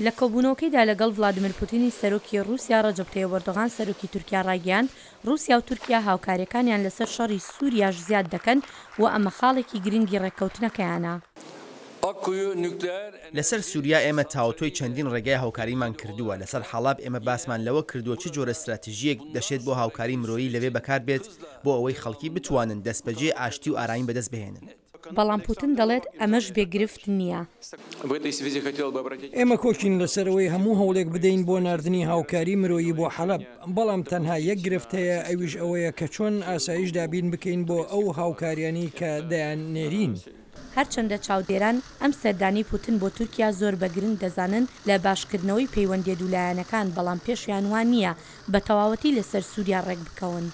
لە کۆبوونەوەکەیدا لەگەڵ ڤلادیمیر پوتینی سەرۆکی ڕووسیا، ڕەجەب تەیب ئەردۆغان سەرۆکی تورکیا ڕایگەیاند، ڕووسیا و تورکیا هاوکارییەکانیان لەسەر شەڕی سووریاش زیاد دەکەن و ئەمە خاڵێکی گرنگی ڕێککەوتنەکەیانە. لەسەر سووریا ئێمە تاوتوێی چەندین ڕێگای هاوکاریمان کردووە، لەسەر حەڵەب ئێمە باسمان لەوە کردووە چ جۆرە ستراتیژییەک دەشێت بۆ هاوکاری مرۆیی لەوێ بەکار بێت بۆ ئەوەی خەڵکی بتوانن دەستبەجێ ئاشتی و ئارامی بەدەست بهێنن. بەڵام پوتن دەڵێت ئەمەش بێ گرفت نییە. ئێمە کۆکین لەسەر ئەوەی هەموو هەوڵێک بدەین بۆ ناردنی هاوکاری مرۆیی بۆ حەلەب، بەڵام تەنها یەک گرفت هەیە، ئەویش ئەوەیە کە چۆن ئاسایش دابین بکەین بۆ ئەو هاوکاریانەی کە دەیاننێرین. هەرچەندە چاودێران ئەم سەردانەی پوتن بۆ تورکیا زۆر بە گرنگ دەزانن لە باشکردنەوەی پەیوەندیە دوولایەنەکان، بەڵام پێشیان وا نییە بە تەواوەتی لەسەر سوریا ڕێکبکەون.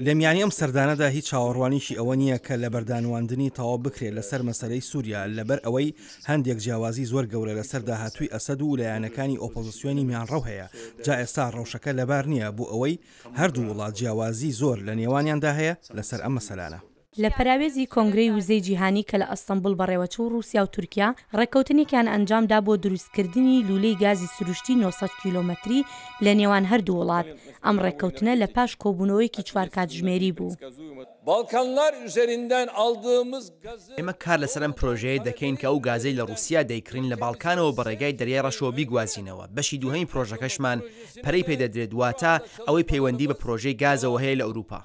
لە میانی ئەم سەردانەدا هیچ چاوەڕوانیکی ئەوە نییە کە لەبەردانواندنی تەواو بکرێت لەسەر مەسەلەی سوریا لەبەر ئەوەی هەندێک جیاوازی زۆر گەورە لەسەر داهاتووی ئەسەد و لایەنەکانی ئۆپۆزسیۆنی میانڕەو هەیە جا ئێستا ڕەوشەکە لەبار نییە بۆ ئەوەی هەردوو وڵات جیاوازی زۆر لە نێوانیاندا هەیە لەسەر ئەم مەسەلانە. لە پەراوێزی کۆنگرەی وزەی جیهانی کە لە ئەستەنبوڵ بەڕێوەچوو ڕووسیا و تورکیا ڕێککەوتنێکیان ئەنجام دا بۆ دروستکردنی لوولەی گازی سروشتی نۆ سەد کیلۆمەتری لە نێوان هەردوو وڵات، ئەم ڕێککەوتنە لە پاش کۆبوونەوەیەکی چوار کاتژمێری بوو. ئێمە کار لەسەر ئەم پرۆژەیە دەکەین کە ئەو گازەی لە ڕووسیا دەیکڕین لە باڵکانەوە بە ڕێگای دەریای ڕەشەوە بیگوازینەوە، بەشی دووهەمی پرۆژەکەشمان پەرەی پێدەدرێت، واتە ئەوەی پەیوەندی بە پرۆژەی گازەوە هەیە لە ئەوروپا.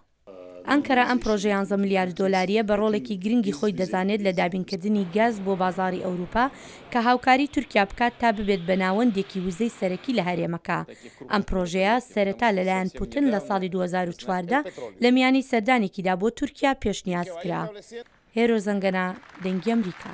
ئەنقەرە ئەم پڕۆژە یانزە ملیار دۆلارییە بە ڕۆڵێکی گرنگی خۆی دەزانێت لە دابینکردنی گاز بۆ بازاڕی ئەوروپا کە هاوکاری تورکیا بکات تا ببێت بە ناوەندێکی وزەی سەرەکی لە هەرێمەکە. ئەم پڕۆژەیە سەرەتا لەلایەن پوتن لە ساڵی دوو هەزار و چواردە لە میانی سەردانێکیدا بۆ تورکیا پێشنیاز کرا. هێرۆ زەنگەنە، دەنگی ئەمریکا.